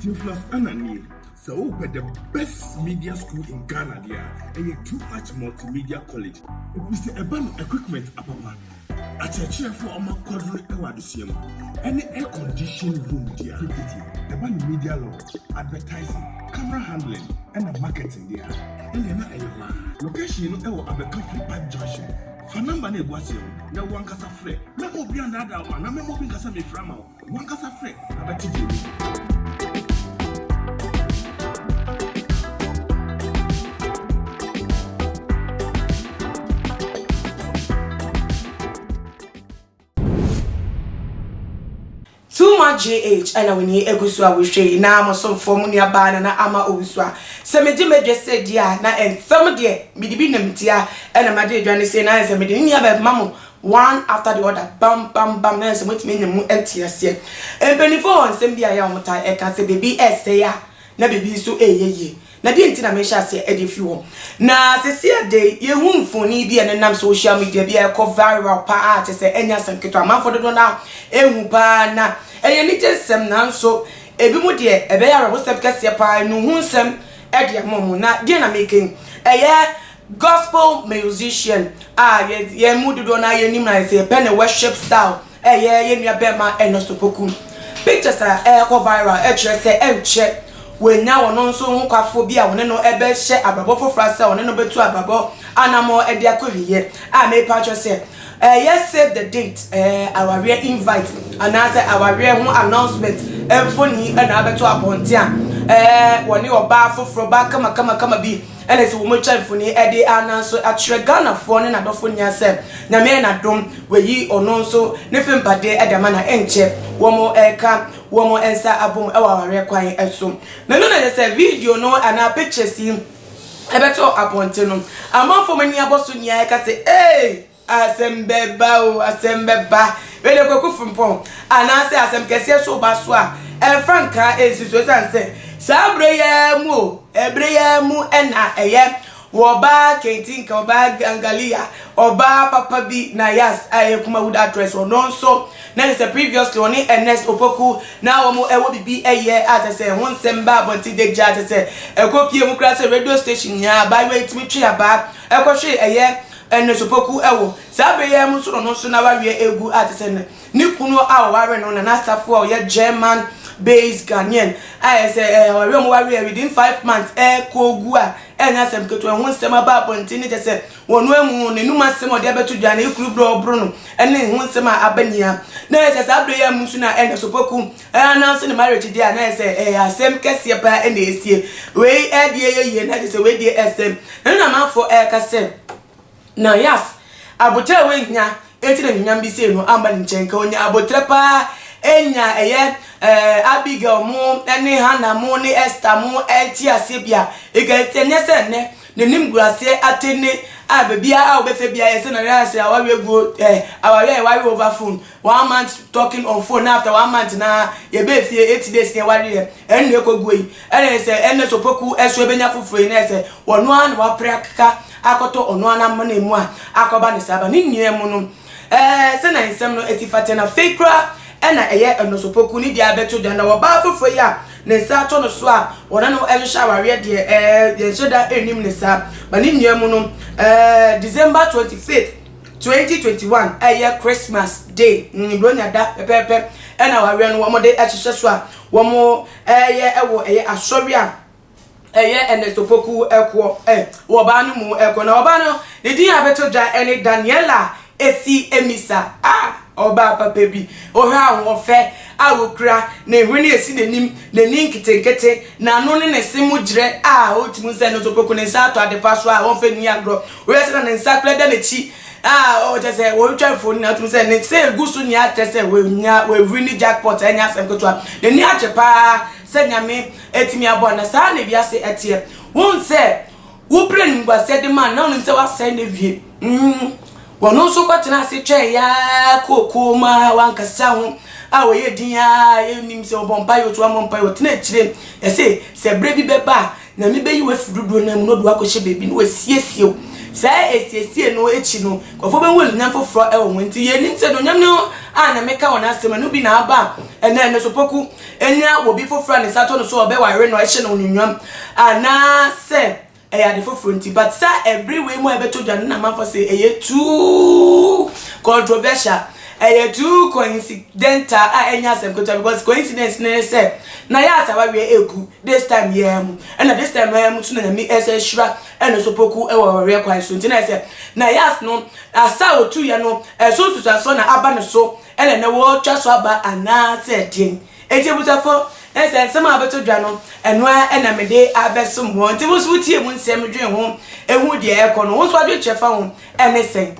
Theophilus Anna nie, sɛ wopɛ the best media school in Ghana deɛ a, ɛyɛ Too Much Multimedia College. Ɛfiri sɛ ɛba no equipment apapa, akyerɛkyerɛfoɔ a wɔakwadro wɔ adesua mu, ɛne air conditioned room deɛ a tititi. Ɛba no media law, advertising, camera handling ɛna marketing deɛ a, ɛnneɛ na ɛyɛ hɔ ara. Location no ɛwɔ Abɛka Free Park Junction. Fa number no a ɛgu aseɛ no na wo ankasa frɛ. Mɛma obi annaadaa wo anaa mɛma obi nka sɛ mefrɛ ama wo. Wankasa frɛ abɛte deɛ wawu. Too much JH ɛna w'ani egu so a wohwɛ yi na mo somfoɔ mo nua baa Nana Ama Owusu a sɛ megye m'adwa sɛ di a na ɛnsɛm deɛ mede bi nam ntia ɛna magye adwa no sei na ayɛ sɛ mede ne nua bɛma mo One after the other, bam bam bam, na ayɛ sɛ wɔatumi anya mu nteaseɛ. Mpanimfoɔ wɔ nsɛm bi a ɛyɛ a wɔtaa ɛka sɛ biribi resɛe a na biribi nso reyɛ yie. Na deɛ nti na mehyɛ aseɛ de firi hɔ. Na sɛsi ɛdɛ yi, yɛhu mfoni bi a ɛnenam social media bi a ɛkɔ viral pa ara kyɛ sɛ ɛnyɛ asɛm ketewa. Amanfoɔ dodoɔ no ara hu pa ara na ɛyɛ anigye nsɛm nanso ebinom deɛ ɛbɛyɛ awerɛhosɛm kɛseɛ pa ara, nnuhu nsɛm de ama wɔn. Na deɛ na mereka yi, ɛyɛ Gospel musician a yɛ yɛn mu dodoɔ no ara yɛnim no ayɛ sɛ yɛpɛ ne worship style ɛyɛ yɛn nua bɛɛma Ernest Opoku. Pictures a ɛrekɔ viral ɛkyerɛ sɛ ɛnkyɛ wanya ɔno nso ho kwafoɔ bi a ɔne no ɛbɛhyɛ abrabɔ foforɔ ase a ɔne no bɛtu abrabɔ anamɔ ɛde akɔ awieɛ a mepa akyɛw sɛ ɛyɛ save the date ɛɛ awareɛ invite anaasɛ awareɛ ho announcement mfoni ɛna abɛto abɔnten a ɛɛ wɔne ɔbaa foforɔ ɔbaa kamakamakama bi Ɛna sɛ wɔatwa mfoni de anan so akyerɛ Ghanafoɔ ne n'adɔfo nyinaa sɛ Nyame ayɛ n'adom wayi ɔno nso ne fempade de ama na ɛnkyɛ wɔreka wɔn nsa abom wɔ awareɛ kwan so. Na ɛno na ɛyɛ sɛ video no anaa pictures yi bɛtɔ abɔnten no amanfoɔ ani abɔ so nyinaa reka sɛ eei! Asɛm bɛba o, asɛm bɛba. Wei deɛ Kwaku Frimpong anaasɛ asɛm kɛseɛ so ba so a, ɛmfa nkaa ɛnsi so ɛsiane sɛ saa berɛ yi ara mu o, ɛberɛ yi ara mu na ɛyɛ wɔbaa Kentinka, ɔbaa Gangalia, ɔbaa papa bi na Yas a ɛyɛ Kumawuda address ɔno nso na kyerɛ sɛ previously ɔne Ernest Opoku na wɔn ɛwɔ biribi ɛyɛ a kyerɛ sɛ ɛho nsɛm baa abɔnten da gya kyerɛ sɛ ɛkɔ pie mu koraa sɛ radio station nyinaa abaayewa yi tumi twe abaa ɛkɔhwe ɛyɛ Nnisopaku wɔ saa bere yi ara mu soro no so na wawe agu a te sɛ nɛ ne kunu a ɔwaree no na n'asafo a ɔyɛ German based Ghanaian a ɛyɛ sɛ awareɛ a wɔware yɛ within five months rekɔ gu a ɛnyɛ asɛm ketewa ɛho nsɛm aba abɔnten ne kyɛ sɛ wɔn no amu n'anum asɛm a ɔde abɛto dwa ne kuru berɛ a ɔboro no ne ho nsɛm a aba nyinaa na ɛyɛ sɛ saa bere yi ara mu nso na nnisopaku Ɛ announce ne marriage deɛ a na ayɛ sɛ ɛyɛ asɛm kɛseɛ paa na ɛresie. Wei deɛ ɛyɛ yie na kyerɛ sɛ wei deɛ ɛsɛm. Ɛno na amanfoɔ ɛreka sɛ na Yas aboterɛ a wannya nti na anuonyam bi sei no amma ne nkyɛn. Nka ɔnya aboterɛ paa anya ɛyɛ eh, Abigail mo ne Hannah mo ne Esther mo nteaseɛ bi a, nka ɛnyɛ sɛ nnɛ n'animguaseɛ atene a baabiara a wobɛhwɛ biara ayɛ sɛ na ayɛ sɛ awareɛ guo eh, awareɛ a yɛware over phone. One month talking on phone na after one month na yɛbɛɛ fie eight days na yɛwareɛ ɛno na ɛkɔguo yi ɛna yɛ sɛ ɛnɛ sɛ opoku ɛso ɛbɛnya foforɔ yi na yɛ sɛ ɔno ara na wapere akeka akɔtɔ ɔno ara n'amena mu a akɔba ne saa ba ne nyinaa mu no ɛɛ sɛ na nsɛm no ɛsi fa tɛ na afei koraa ɛna ɛyɛ ɛno sɛ opoku ne deɛ abɛto dwa na ɔbaa foforɔ yi a ne nsa atɔ no so a ɔne no ɛhyehyɛ awareɛ deɛ ɛɛ yɛnhyɛ da ɛnnim ne saa ba ne nyinaa mu no ɛɛ December twenty fifth Twenty twenty one ɛyɛ Christmas day mm, Buronya da pɛpɛɛpɛ ɛna awareɛ no wɔn de ahyehyɛ so a wɔn ɛyɛ ɛwɔ ɛyɛ asɔre a ɛyɛ Ernesto Poku ɛkoɔ ɛ wɔ ɔbaa no mu ɛkɔ na ɔbaa no ne din a bɛto dwa ɛne Daniela Esi Emisa a ɔbaa papa bi ɔhwɛ ahoɔfɛ a ɔkura ne hwene esi n'anim n'ani nketenkete n'ano ne ne se mu gyerɛ a ɔtumi sɛ Ernesto Poku ne nsa ato adepa so a wɔmfa nni agorɔ Wohwɛ sɛnea ne nsa kura da n'akyi a ɔwɔ kyɛ sɛ wɔretwa mfoni na wotum sɛ ne nsa egu so nea kyerɛ sɛ wanya wawiri ne jackpot ɛnyɛ asɛm ketewa n'ani agye paa sɛ nyame atumi aboa na saa na wiase ɛteɛ wohu sɛ wobrɛ animguaseɛ de ma na wonim sɛ wasɛe na wie mm wɔn nso kɔtena ase twɛn yaa kookoo ma wankasa ho a wɔyɛ din a yɛnim sɛ wɔbɔ mpa yɛ otu wɔmmɔ mpa yɛ wɔtena akyire ɛse sɛ berɛ bi bɛba a Na mebeyi wo afi dodow no ara mu na ɔde wo akɔhyɛ baabi na wasiesie wo. Saa asiesie no akyi no, nkurɔfoɔ bɛhu anuonyam foforɔ wɔ ho. Enti yɛnim sɛ anuonyam no a na meka wɔn asɛm ɛno bi na aba a ɛnnɛ ɛno nso Poku anya wɔ obi foforɔ a ne nsa atɔ no so a ɔbɛware no a ɛhyɛ no anuonyam anaasɛ ɛyɛ ade foforɔ nti. But saa ɛbere wei mu a ɛbɛtɔ dwa no na amanfoɔ se ɛyɛ too controversial. Ɛyɛ too coincidental a ɛnyɛ asɛm ketewa because coincidence no ne sɛ na yɛ asa awareɛ ɛgu this time yi ara mu ɛna this time yi ara mu nso na Nyame ɛsɛ ɛhyira ɛna nso poku ɛwɔ awareɛ kwan so nti na ɛsɛ na yɛ as no asa a ɔtuiɛ no ɛso nsusuasoɔ na aba ne so ɛna ɛnɛ wɔretwa so aba anaa sɛ deɛn ɛnti abusafo na sɛ nsɛm a abɛtɔ dwa no ɛno ara ɛna mede abɛsom wɔ nti wo nso wotie mu nsɛm dwen ho ɛhu deɛ ɛkɔ no wo nso adwenkyerɛ fa ho ɛne sɛn.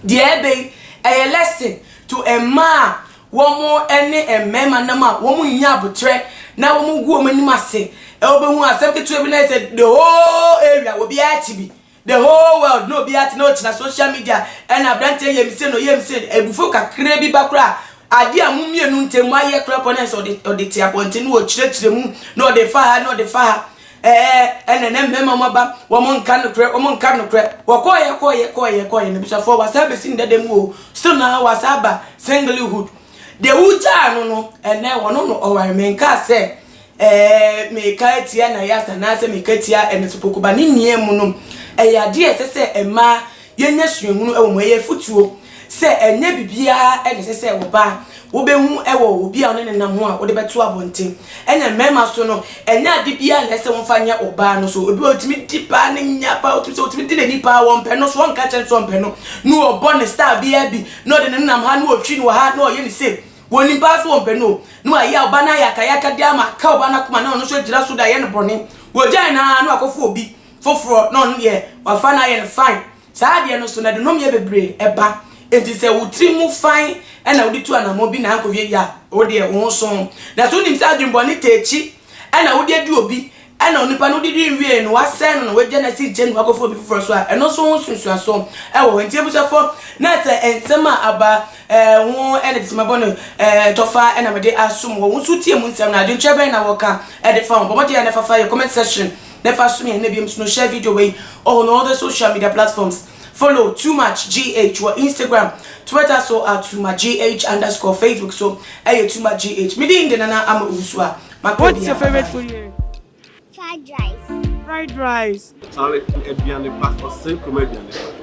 Deɛ ɛbɛ yi ɛyɛ lesson to mmaa a wɔn ɛne mmarima nam a wɔn nnya abotrɛ na wɔn gu wɔn anim ase ɛ wɔbɛhu asɛm ketewa bi na ɛsɛ the whole area obiara te bi the whole world na obiara te na ɔtena social media ɛna abranteɛ yɛ mise no yɛ mise ebufuo kakra bi ba koraa adeɛ a mo mmienu ntɛm mo ayɛ koraa pɔ na ɛsɛ ɔde ɔde te abɔnten na ɔkyerɛkyerɛ mu na ɔde fa ha na ɔde fa ha ɛɛ ɛna na mmarima mu aba wɔn nka nokorɛ wɔn nka nokorɛ wɔkɔɔyɛ kɔɔyɛ kɔɔyɛ kɔɔyɛ na bisafoɔ wasaa bɛsi ne dada mu o still na wasaa ba singlehood deɛ wogyaa no no ɛnɛ wɔno no ɔware menkaa sɛ ɛɛ meka atia na yasa anaasɛ meka atia ɛno so kokoba ne nea mu no ɛyɛ adeɛ ɛsɛ sɛ mmaa Yɛnya suahunu wɔ mu. Ɛyɛ afotuo sɛ ɛnyɛ biribiara na ɛsɛ sɛ ɔbaa wobɛhu wɔ obi a ɔne no nam ho a wode bɛto abɔnten. Ɛna mmarima nso no, ɛnyɛ ade biara na ɛsɛ sɛ wɔfa nyɛ ɔbaa no so. Obi wɔ hɔ a ɔtumi di paa ne nya paa, ɔtumi sɛ ɔtumi di n'ani paa, ɔmpɛ no so, ɔnka nkyerɛ no sɛ ɔmpɛ no, na ɔbɔ no style biara bi, na ɔde no nam ha, na ɔhwi no wɔ ha, na ɔyɛ no sei. Ɔnim paa sɛ ɔmpɛ no o, na wayɛ a ɔbaa no ayɛ akayakadeɛ ama aka ɔbaa no akoma, na ɔno nso agyina so de ayɛ no bɔne. Wagyae no ara na wakɔfa obi. foforɔ na ɔno deɛ wafa no ayɛ no fine saa adeɛ no so na ɛde nomyɛ bebree ɛba enti sɛ wo tiri mu fine ɛna wode tu anamɔ bi na ankɔwie yɛ a wo deɛ wo ho so na so wonim sɛ adwenbɔne taakyi ɛna wode adi obi ɛna onipa no wode di nwie no wasɛe no na wagya no asi nkyɛn na wakɔfo obi foforɔ so a ɛno nso ho nsunsuaso ɛwɔ hɔ enti abusuafo na sɛ nsɛm a aba ɛɛ ho ɛna de sima bɔ no ɛɛ tɔfa ɛna mede asom wɔ wo nso tie mu nsɛm na adwenkyerɛ bɛn na wɔka ɛde fa ho bɔ mmɔden a na ɛfafa yɛ comment section Nefa so mmienu na biom so no share video wei on all the social media platforms follow too much gh wɔ instagram twitter so at too much gh underscore facebook so ɛyɛ too much gh me din de nana ama owusu a maka What's your obiara favorite food here? Fried rice. Fried rice. Charlie, aduane pa, ɔsɛn kurom aduane pa.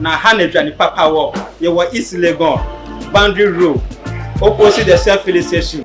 Na ha na dwane papa wɔ. Yɛwɔ East Legon, Boundary Road, opposite the Shell Filling Station.